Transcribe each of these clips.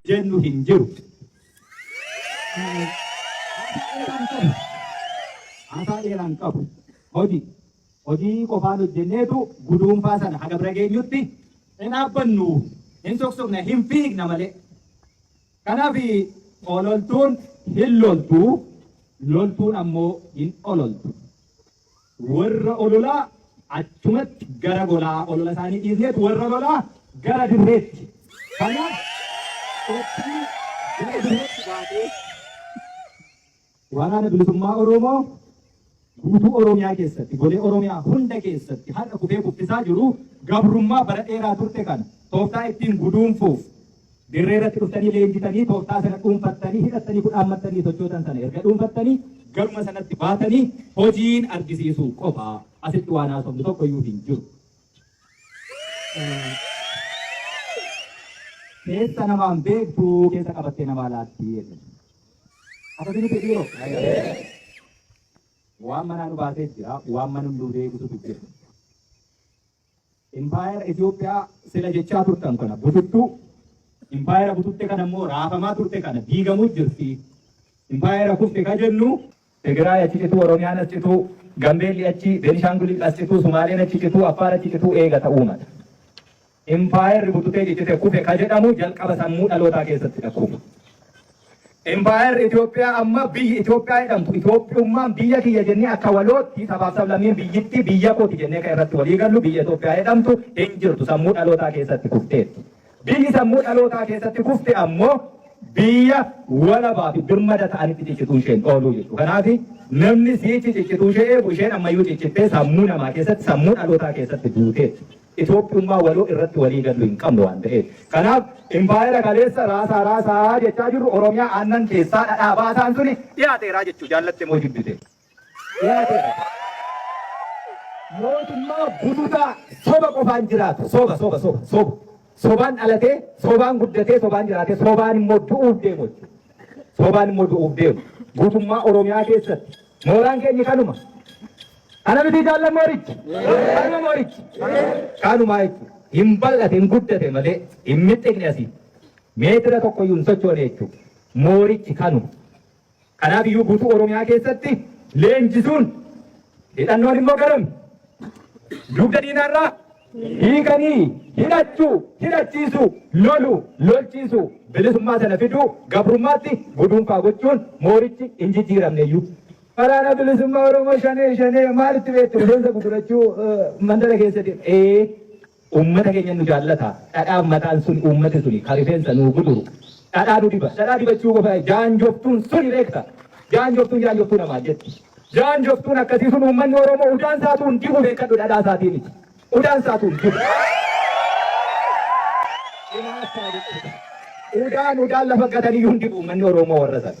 jennu hin jiru. Haasaa dheeraan qabu. Hojii. Hojii qofaan hojjenneetu guduunfaa sana haga bira geenyutti hin dhaabbannu, hin soksokna, hin fiigna malee. Kanaaf ololtuun hin loltu, loltuun ammoo hin ololtu. Warra ololaa achumatti gara golaa olola isaanii dhiisneet warra lolaa gara dirreetti. Kanaaf, qophii gara dirreetti baatee Waraana Bilisummaa Oromoo guutuu Oromiyaa keessatti, golee Oromiyaa hunda keessatti har'a kufee kuffisaa jiru gabrummaa bara dheeraa turte kana tooftaa ittiin guduunfuuf dirree irratti dhuftanii leenjitanii tooftaa sana dhuunfattanii hidhattanii kudhaammattanii sochootan sana erga dhuunfattanii garuma sanatti baatanii hojiin argisiisuu qofa asitti waan haasofnu tokko iyyuu hin jiru. Keessa namaan beektu keessa qabattee namaa laatti. Akkasii miti dhiiroo. Waan manaa nu baasee jira, waan mana nu duudee bututu jira. Impaayera Itoophiyaa sila jechaa turtan kana bututtuu, impaayera bututte kana immoo raafamaa turte kana diigamuu jirti. Impaayera kufte ka jennu Tigiraay achi cituu, Oromiyaan as cituu, Gambeelli achi, Beenishaangulil as cituu, Sumaaleen achi cituu, Affaar achi cituu eegata uummata. Impaayerri bututee ciccite kufe ka jedhamu jalqaba sammuu dhalootaa keessatti dha kufa. Impaayerri Itoophiyaa amma biyyi Itoophiyaa jedhamtu Itoophiyummaan biyya kiyya jennee akka walootti sabaaf sablammiin biyyittii biyya kooti jennee kan irratti walii gallu biyya Itoophiyaa jedhamtu hin jirtu sammuu dhalootaa keessatti kufteetti. Biyyi sammuu dhalootaa keessatti kufte ammoo biyya walabaa fi birmada ta'anitti ciccituu ishee hin ooluu jechuudha. Kanaaf namni siichi ciccituu ishee eegu isheen ammayyuu ciccittee sammuu namaa keessatti sammuu dhalootaa keessatti duuteetti. Itoophiyummaa waloo irratti walii gallu hin qabnu waan ta'eef. Kanaaf impaayera kaleessa raasaa raasaa jechaa jirru Oromiyaa aannan keessaa dhadhaa baasaan suni dhiyaateeraa jechuu jaallatte moo jibbite. dhiyaatedha. Mootummaa bututaa soba qofaan jiraatu soba soba soba soba sobaan dhalatee sobaan guddatee sobaan jiraatee sobaan immoo du'uuf deemu sobaan immoo du'uuf deemu guutummaa Oromiyaa keessatti mooraan keenya kanuma kana miti jaallan moorichi kanuma moorichi kanumaa jechuudha hin bal'ate hin guddate malee hin mixiqne asii meetira tokko iyyuu hin sochoone jechuudha moorichi kanuma. Kanaaf iyyuu guutuu Oromiyaa keessatti leenjisuun hidhannoon immoo garam dugda diinaarraa hiikanii hidhachuu hidhachiisuu lolu lolchiisuu bilisummaa sana fiduu gabrummaatti guduunfaa gochuun moorichi hin jijjiiramneyyuu. Waraana bilisummaa Oromoo shanee shanee maalitti beektu rifeensa gugurachuu mandara keessa deema. Uummata keenya nu jaallata. Dhadhaa mataan suni uummati suni ka rifeensa nuu guduru dhadhaa nu diba. Dhadhaa dibachuu qofa jaanjoftuun suni beekta. Jaanjoftuun jaanjoftuu namaan jetti. Jaanjoftuun akkasii sun uummanni Oromoo udaan saatuun dibu beekadhu dhadhaa isaatii miti. Udaan saatuun dibu. Inaaftaa jechuudha. Udaan udaan lafa gataniyyuu hin dibu uummanni Oromoo warra sana.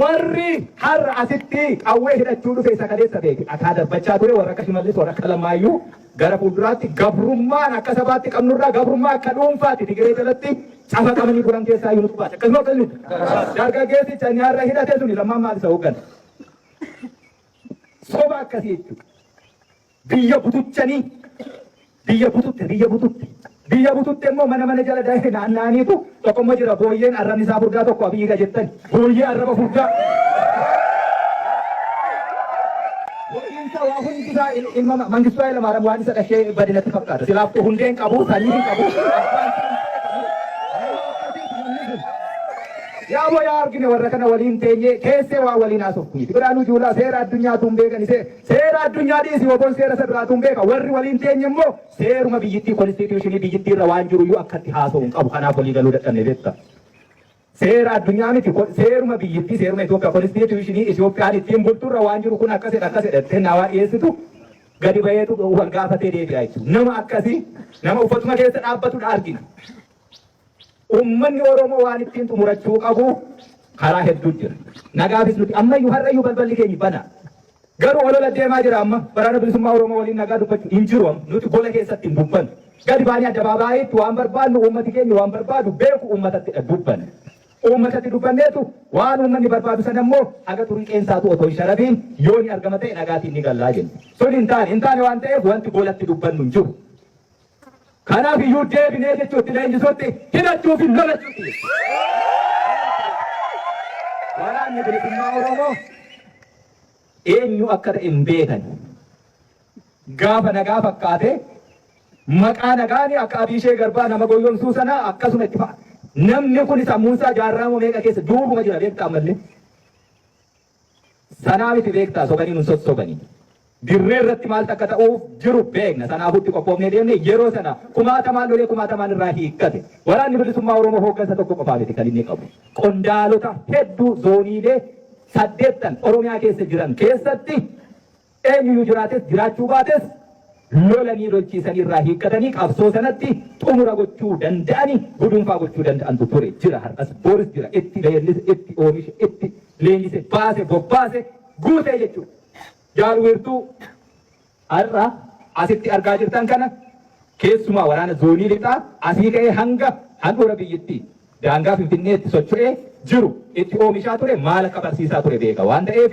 Warri har'a asitti qawwee hidhachuu dhufe isa kaleessa beeke. Dhakaa darbachaa ture warra akka Shimallis warra akka Lammaayyuu gara fuulduraatti gabrummaan akka sabaatti qabnurraa gabrummaa akka dhuunfaatti Tigiree jalatti cafaqamanii bulan keessaa yoo tubaate. Akkasuma akkasuma dargaggeessi canii har'a hidhate suni lammaan maal isa hooggana. Soba akkasii jechuudha. Biyya butuchanii biyya bututte biyya bututte biyya bututte immoo mana mana jala daa'e naanna'aniitu tokko immoo jira booyyeen arrabni isaa furdaa tokko abiyyiidha jettan booyyee arraba furdaa. Hojiinsa waa hundi isaa il- ilma ma- Mangistuu Hayilamaariyaam waan isa dhashee badinatti fakkaata. Silaaf koo hundee hin qabu, sanyii hin qabu. abbaan isaa hin qabu. Nama akkasiitu namni kun. Yaa boo yaa argine warra kana waliin teenyee keessee waa waliin haasofnu. Biraanuu Juulaa seera addunyaatu hin beekani see Seera addunyaa dhiisi wabon seera isa duraatu hin beeka. Warri waliin teenye immoo seeruma biyyittii konstituushinii biyyittii irra waan jiru iyyuu akkatti haasa'u hin qabu. Kanaaf walii galuu dadhabne beekta. Seera addunyaa miti ko- seeruma biyyittii seeruma Itoophiyaa konstituushinii Itoophiyaan ittiin bultu irra waan jiru kun akkasidha akkasidha jettee naawaa dhiyeessitu gadi baheetu wal gaafatee deebi'a jechuudha. Nama akkasii nama uffatuma keessa dhaabbatudha argina. Ummanni Oromoo waan ittiin xumurachuu qabu karaa hedduu jira. Nagaafis nuti ammayyuu har'ayyuu balballi keenya bana. Garuu olola deemaa jira amma waraana bilisummaa Oromoo waliin nagaa dubbachuu hin jiru amma nuti gola keessatti hin dubbannu. Gadi baanii addabaabaayiitti waan barbaadnu uummati keenya waan barbaadu beeku uummatattidha dubbanna. Uummatatti dubbanneetu waan uummanni barbaadu sana immoo haga turii qeensaatu otoo hin sharafiin yoo ni argama ta'e nagaatiin ni gallaa jenna. Sun hin taane hin taane waan ta'eef wanti golatti dubbannu hin jiru. Kanaaf iyyuu deebinee jechuutti leenjisuutti hidhachuu fi lolachuutti jechuudha. Waraanni bilisummaa Oromoo eenyu akka ta'e hin beekan. Gaafa nagaa fakkaatee maqaa nagaani akka Abiishee Garbaa nama goyyomsuu sanaa akkasuma itti fa'a. Namni kun sammuunsaa jaarraa moo meeqa keessa duubuma jira beektaa ammallee. Sanaa miti beektaa sobanii nun sossobanii. Dirree irratti maaltu akka ta'uuf jiru beekna. Sanaafuu itti qophoofnee deemne. Yeroo sana kumaatamaan lolee kumaatamaan irraa hiikkate. Waraanni Bilisummaa Oromoo hooggansa tokko qofaa miti kan inni qabu. Qondaalota hedduu zooniilee saddeettan Oromiyaa keessa jiran keessatti Eenyuyyuu jiraates jiraachuu baates lolanii lolchiisanii irraa hiikkatanii qabsoo sanatti xumura gochuu danda'ani gudunfaa gochuu danda'antu ture, jira, har'as, boris jira, itti leellise, itti oomishe, itti leenjise, baase, bobbaase, guute jechuudha. Jaal Wiirtuu har'a asitti argaa jirtan kana keessumaa waraana zoonii lixaa asii ka'ee hanga handhuura biyyittii daangaa Finfinneetti socho'ee jiru itti oomishaa ture maal akka barsiisaa ture beeka waan ta'eef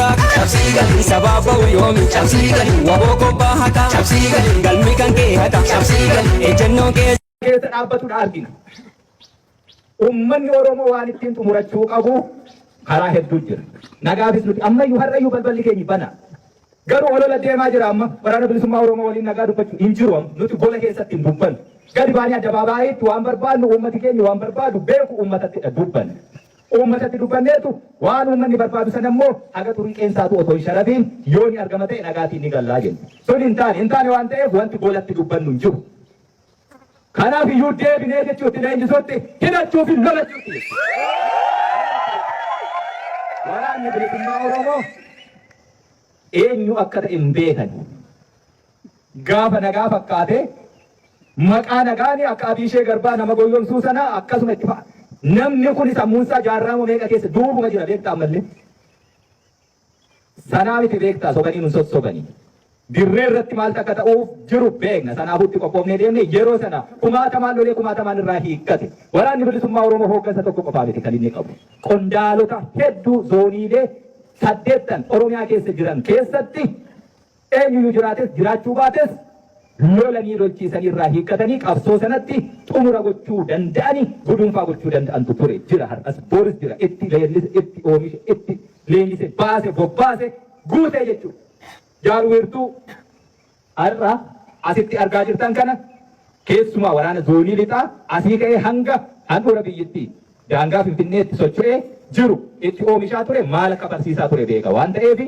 haqaa cabsii galii sabaaf ba'u yoomi cabsii galii waboo kobbaa haqaa cabsii galii galmi kan kee haqaa cabsii galii ejjennoon kee keessa dhaabbatudha argina. Uummanni Oromoo waan ittiin xumurachuu qabu karaa hedduu jira. Nagaafis nuti ammayyuu har'ayyuu balballi keenya bana. Garuu olola deemaa jira amma waraana bilisummaa Oromoo waliin nagaa dubbachuu hin jiru amma nuti gola keessatti hin dubbannu. Gadi baanii addabaabaayyiitti waan barbaadnu uummati keenya waan barbaadu beeku uummatatti dubbanna. Uummatatti dubbanneertu, waan uummanni barbaadu sana immoo haga xurii qeensaatu otoo hin sharafiin yoo ni argama ta'e nagaatiin ni galla jenne. Sun hin taane, hin taane waan ta'eef wanti goolatti dubbannu hin jiru. Kanaaf iyyuu deebinee jechuutti leenjisuutti hidhachuu fi lolachuutti jechuudha. Waraanni bilisummaa Oromoo eenyu akka ta'e hin beekani. Gaafa nagaa fakkaate maqaa nagaani akka Abiishee Garbaa nama goyyomsuu sana akkasuma itti fa'a. Namni kun sammuunsaa jaarraama meeqa keessa duubuma jira beektaa ammallee. Sanaa miti beektaa sobanii nun sossobanii. Dirree irratti maaltu akka ta'uuf jiru beekna. Sanaafuu itti qophoofnee deemne yeroo sana kumaatamaan lolee kumaatamaan irraa hiikkate. Waraanni bilisummaa Oromoo hooggansa tokko qofaa miti kan inni qabu. Qondaalota hedduu zooniilee saddeettan Oromiyaa keessa jiran keessatti Eenyuyyuu jiraates jiraachuu baates lolanii lolchiisanii irraa hiikkatanii qabsoo sanatti xumura gochuu danda'ani guduunfaa gochuu danda'antu ture, jira har'as, boris jira itti leellise, itti oomishe, itti leenjise, baase, bobbaase, guute jechuudha. Jaal Wiirtuu har'a asitti argaa jirtan kana keessumaa waraana zoonii lixaa asii ka'ee hanga handhuura biyyittii daangaa Finfinneetti socho'ee jiru itti oomishaa ture maal akka barsiisaa ture beeka waan ta'eef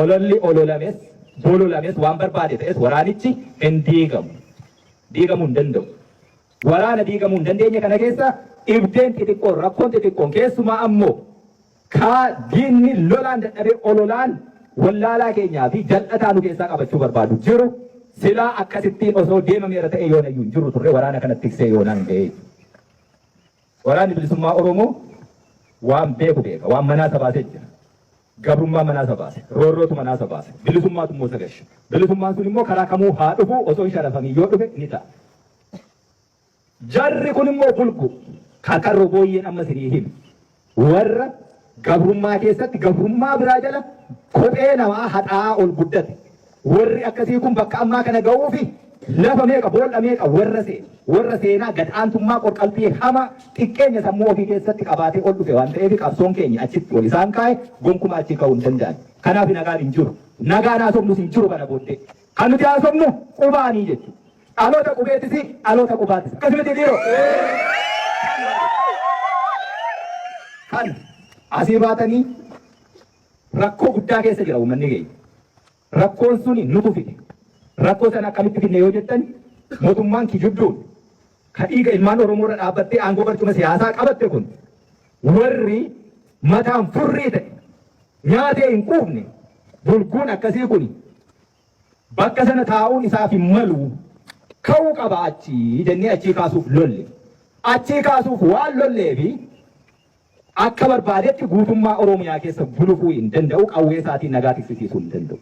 Ololli ololames, bololames, waan barbaade ta'es waraanichi hin diigamu. Diigamuu hin danda'u. Waraana diigamuu hin dandeenye kana keessa dhibdeen xixiqqoon, rakkoon xixiqqoon keessumaa ammoo kaa diinni lolaan dadhabee ololaan wallaalaa keenyaa fi jal'ataa nu keessaa qabachuu barbaadu jiru silaa akkasittiin osoo deemameera ta'ee yoonayyuu hin jiru turre waraana kana tiksee yoonaa hin ga'ee. Waraanni bilisummaa Oromoo waan beeku beeka, waan manaa isa baasee jira. Gabrummaan manaa isa baase. Roorrootu manaa isa baase. Bilisummaatu immoo isa galche. Bilisummaan sun immoo karaa kamuu haa dhufu osoo hin sharafamiin yoo dhufe ni ta'a. Jarri kun immoo bulgu karkarroo booyyeen amma isinii hime. Warra gabrummaa keessatti gabrummaa biraa jala kophee namaa haxaa'aa ol guddate. Warri akkasii kun bakka ammaa kana ga'uufi lafa meeqa, bool'a meeqa warra seene, warra seenaa gad aantummaa qorqalbii hamaa xiqqeenya sammuu ofii keessatti qabaatee ol dhufe waan ta'eef qabsoon keenya achitti ol isaan kaa'e gonkumaa achii ka'uu hin danda'an. Kanaaf nagaan hin jiru. Nagaan haasofnus hin jiru kana booddee. Kan nuti haasofnu qubaanii jechuudha. Dhaloota qubeettis dhaloota qubaattis. Akkas miti dhiiroo. Kan asii baatanii Rakkoo guddaa keessa jira uummanni keenya. Rakkoon suni nutu fide. Rakkoo sana akkamitti fidne yoo jettan mootummaan kijibduun ka dhiiga ilmaan Oromoo irra dhaabbattee aangoo barcuma siyaasaa qabatte kun warri mataan furrii ta'e nyaatee hin quufne bulguun akkasii kun bakka sana taa'uun isaaf hin malu ka'uu qaba achii jennee achii kaasuuf lolle. Achii kaasuuf waan lollee fi Akka barbaadetti guutummaa Oromiyaa keessa bulufuu hin danda'u, qawwee isaatiin nagaa tiksisiisuu hin danda'u.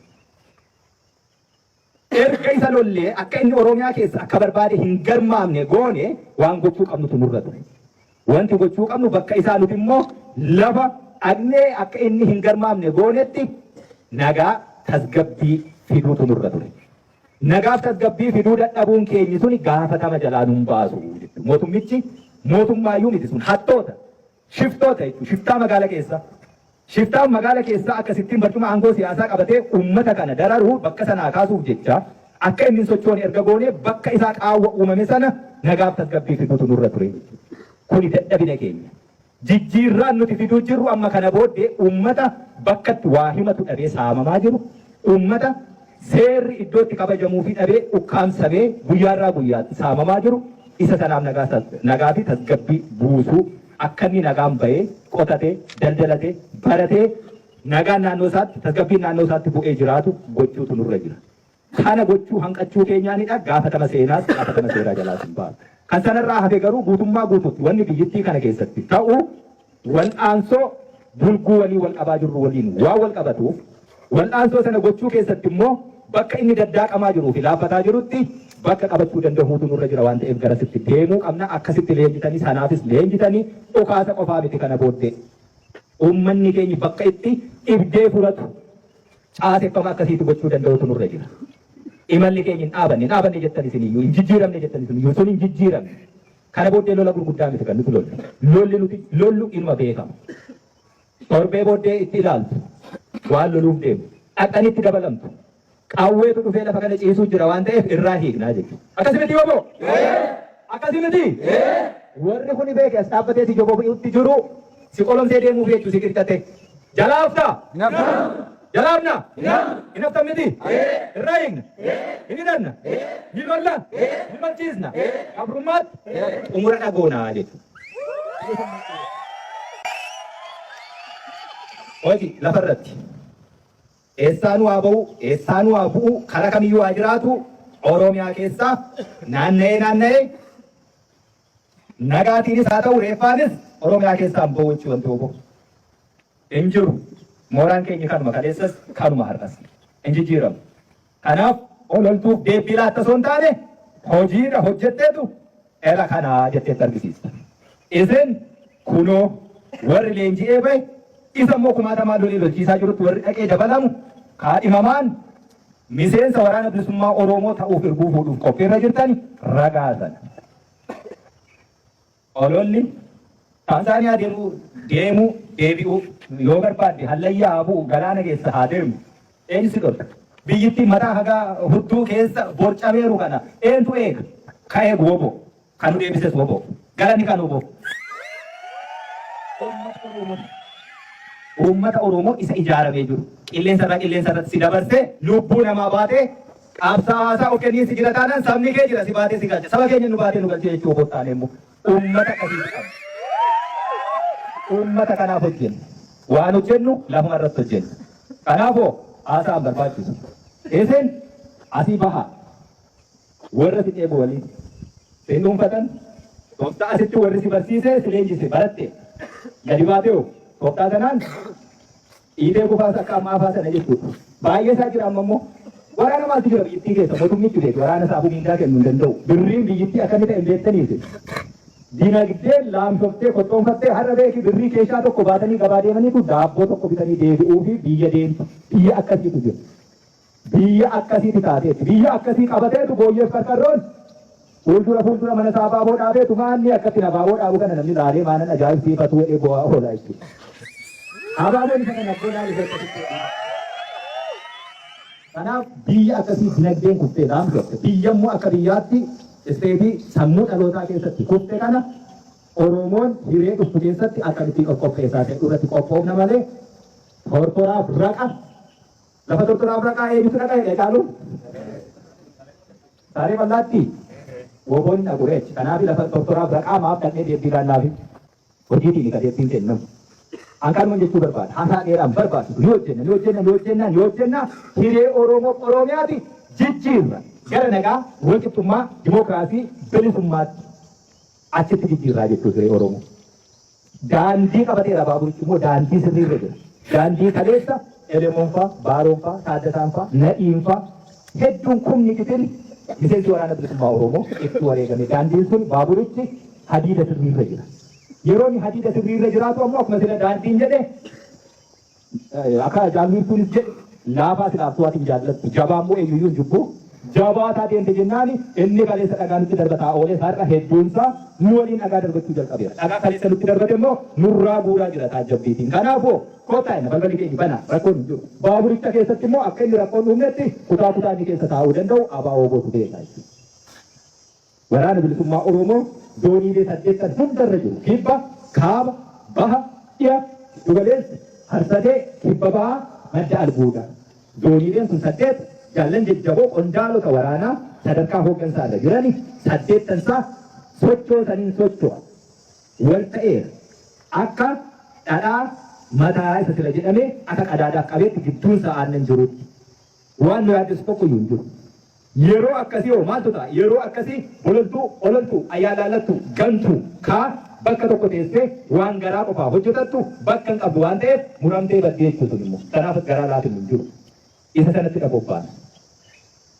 Erga isa lollee akka inni Oromiyaa keessa akka barbaade hin garmaamne goone waan gochuu qabnutu nurra ture. Wanti gochuu qabnu bakka isaa nuti immoo lafa dhaqnee akka inni hin garmaamne goonetti nagaa tasgabbii fiduutu nurra ture. Nagaaf tasgabbii fiduu dadhabuun keenyi suni gaafatama jalaa nun baasu jechuudha. Mootummichi mootummaayyuu miti sun hattoota, shiftoota jechuudha. Shiftaa magaala keessa. Shiftaan magaala keessaa akkasittiin barcuma aangoo siyaasaa qabatee uummata kana dararuu bakka sanaa kaasuuf jecha akka inni hin sochoone erga goonee bakka isaa qaawwa uumame sana nagaaf tasgabbii fiduutu nurra ture jechuudha. Kuni dadhabina keenya. Jijjiirraan nuti fiduu jirru amma kana booddee uummata bakkatti waa himatu dhabee saamamaa jiru, uummata seerri iddootti kabajamuufii dhabee ukkaamsamee guyyaarraa guyyaatti saamamaa jiru isa sanaaf nagaa fi tasgabbii buusuu akka inni nagaan bahee qotatee daldalatee baratee nagaan naannoo isaatti tasgabbiin naannoo isaatti bu'ee jiraatu gochuutu nurra jira. Kana gochuu hanqachuu keenyaanidha gaafatama seenaas gaafatama seeraa jalaas hin baanu. Kan sanarraa hafe garuu guutummaa guutuutti wanni biyyittii kana keessatti ta'u wal'aansoo bulguu waliin wal qabaa jirru waliin waan wal qabatuuf wal'aansoo sana gochuu keessatti immoo bakka inni daddaaqamaa jiruu fi laaffataa jirutti bakka qabachuu danda'uutu nurra jira waan ta'eef garasitti deemuu qabna akkasitti leenjitanii sanaafis leenjitanii dhukaasa qofaa miti kana booddee uummanni keenya bakka itti dhibdee furatu Caaseffama akkasiitu gochuu danda'utu nurra jira. Imalli keenya hin dhaabanne, hin dhaabanne jettan isin iyyuu, hin jijjiiramne jettan isin iyyuu, sun hin jijjiiramne. Kana booddee lola gurguddaa miti kan nuti lollu. Lolli nuti lollu inuma beekama. Torbee booddee itti ilaaltu, waan loluuf deemu, dhaqxanii itti dabalamtu. Qawweetu dhufee lafa kana ciisuu jira waan ta'eef irraa hiiknaa jechuudha. Akkasi miti yoo Akkasi miti? Warri kuni beeke as dhaabbatee si jobobi'utti jiru Si qolomsee deemuuf jechu si qircate. Jalaa hafta? Jalaa hafna? Hin haftan miti? Irraa hiikna? Hin hidhanna? Ni lolla? Ni lolchiisna? Gabrummaatti? Xumura dhagoona jechu. Hoji lafarratti. Eessaanuu haa ba'u, eessaanuu haa bu'u, karaa kamiyyuu haa jiraatu, Oromiyaa keessaa naanna'ee naanna'ee Nagaatiinis haa ta'u reeffaanis Oromiyaa keessaan boo'uchi wanti wbo hin jiru. Mooraan keenyi kanuma kaleessas kanuma har'as hin jijjiiramu. Kanaaf ololtuuf deebbii laatta osoo hin taane hojiidha hojjetteetu era kanaa jetteetti argisiista. Isin kunoo warri leenji'ee bahe isa immoo kumaatamaan lolii lolchiisaa jirutti warri dhaqee dabalamu kaadhimamaan Miseensa Waraana Bilisummaa Oroomoo ta'uuf irbuu fuudhuuf qophiirra jirtan ragaa sana. Ololli Taanzaaniyaa deemuu deemuu deebi'uu yoo barbaadde hallayyaa haa bu'u galaana keessa haa deemu. Eenyu si dhorka? Biyyittiin mataa hagaa hudduu keessa borcameeru kana eentu eega? Ka eegu woboo. Kan nu deebises wbo. Galanni kan wbo. Uummata Oromooti. Uummata Oromoo isa ijaaramee jiru, qilleensa irraa qilleensa irratti si dabarsee lubbuu namaa baatee qabsaawaa isaa of kenniinsi jira taanaan sabni kee jira si baatee si galcha. Saba keenya nu baatee nu galchee jechuu wbo taanee immoo uummata akkasiitu qabna. Uummata kanaaf hojjenna. Waan hojjennu lafuma irratti hojjenna. Kanaafoo haasaa hin barbaachisu. Isin asii bahaa. Worra si ceebu waliin si hin dhuunfatan, toftaa sitti worri si barsiise, si leenjise, baratte, gadi baatee hoo? Toftaa tanaan dhiitee kufaa sakka ammaa faa sana jechuudha. Baay'ee isaa jira amma immoo waraana maaltu jira biyyittii keessa mootummichi beeku waraana isaa afuu mindaa kennu hin danda'u. Birriin biyyittii akka inni ta'e hin beektaniiti. Dinagdee laamshoftee kottoonfattee har'a beeki birrii keeshaa tokko baatanii gabaa deemaniitu daabboo tokko bitanii deebi'uu fi biyya deemtu biyya akkasiitu jira. Biyya akkasiiti taateetti. Biyya akkasii qabateetu Booyyeef Qarqarroon fuuldura fuuldura mana isaa abaaboo dhaabeetu maanni akkattiin abaaboo dhaabu kana namni laalee maanan ajaa'ibsiifatu jedhee boo'aa oolaa jechuudha. Abaaboon isa kana akkoo laalu keessatti Kanaaf biyya akkasii dinagdeen kuftee dhaamtu akka biyya immoo akka biyyaatti isteetii sammuu dhalootaa keessatti kufte kana Oromoon hiree dhuftu keessatti akkamittiin of qopheessaa ta'e irratti qophoofna malee tortoraaf raqa Lafa tortora Afraqaa eebitu dhaqa jedhe caalu. Saaree bal'aatti woboon dhaqu reechi. Kanaaf lafa tortora Afraqaa maaf dhaqnee deebbii laannaafi. Hojiitiin ka deebbiin kennamu. Akkanuman jechuu barbaada. Haasaa dheeraan barbaadu. Ni hojjenna, ni hojjenna, ni hojjenna, ni hojjenna. Hiree Oromoo Oromiyaati jijjiirra. Gara nagaa, walqixxummaa, dimookiraasii, bilisummaatti achitti jijjiirraa jechuudha hiree Oromoo. Daandii qabateera baaburichi immoo daandii sirrii irra jira. Daandii kaleessa Elemoon faa, Baaroon faa, Taaddasaan faa, Nadhiin faa hedduun kumni gitiri miseensi waraana bilisummaa Oromoo itti wareegame. Daandiin sun baaburichi hadiida sirrii irra jira. Yeroo inni hadiida sirrii irra jiraatu ammoo akkuma sila daandiin jedhe Akka Jaal Wiirtuunis jedhe, Laafaa silaaf tu'atiin jaallattu, jabaa immoo eenyu iyyuu hin jibbu. Jabaataa deemte jennaan inni kaleessa dhagaa nutti darbataa oole har'a hedduun isaa nu waliin dhagaa darbachuu jalqabeera. Dhagaa kaleessa nutti darbate immoo nurraa guuraa jira taajjabbiitiin. Kanaafuu kottaa jenna balballi keenya banaa rakkoon hin jiru. Baaburicha keessatti immoo akka inni rakkoon uumnetti kutaa kutaa inni keessa taa'uu danda'u ABO-tu beeka jechuudha. Waraana Bilisummaa Oromoo zooniilee saddeettan hunda irra jiru, Kibba, Kaaba, Baha, Dhiha, Giddu Galeessa, Harsadee, Kibba Bahaa, Madda Albuudaa. Zooniileen kun saddeet jaallan jajjaboo qondaalota waraanaa sadarkaa hooggansaa irra jirani saddeettan isaa sochoosaniin socho'a. Wal ta'eera. Akka dhadhaa mataa isa sila jedhamee akka qadaadaaf qabeetti gidduun isaa aannan jirutti. Waan nu yaaddessu tokkoyyuu hin jiru. Yeroo akkasii hoo maaltu ta'a? Yeroo akkasii bololtuu, ololtuu, ayaalaallattuu, gantuu, kaa bakka tokko teessee waan garaa qofaa hojjetattu bakka hin qabdu waan ta'eef muramtee baddi jechuudha sun immoo. Kanaaf garaa laafinu hin jiru. Isa sanatti dha bobbaana.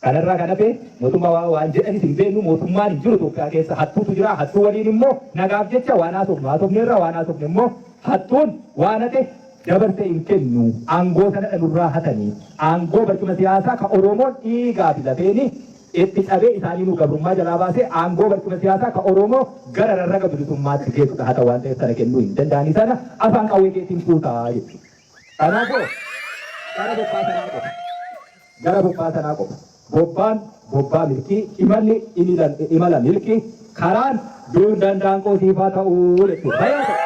Kanarraa kan hafe mootummaa waa waan jedhanis hin beeknu mootummaan hin jiru Itoophiyaa keessa hattuutu jira hattuu waliin immoo nagaaf jecha waan haasofnu haasofneerra waan haasofne immoo hattuun waan hate dabarse hin kennu aangoo sana dha nurraa hatani aangoo barcuma siyaasaa ka oroomoon dhiigaa fi lafeeni itti cabee isaanii nu gabrummaa jalaa baasee aangoo barcuma siyaasaa ka oroomoo gara rarraga bilisummaatti geessu dha hata waan ta'eef sana kennuu hin danda'anii sana afaan qawwee keetiin fuutaa jechuudha kanaafoo kana bobbaa sanaa qofa Gara bobbaa tanaa qofa. Bobbaan, bobbaa milkii, imalli, imila, imala milkii, karaan, duun dandaan koo siif haa ta'u jechuudha. Fayyaa ta'u.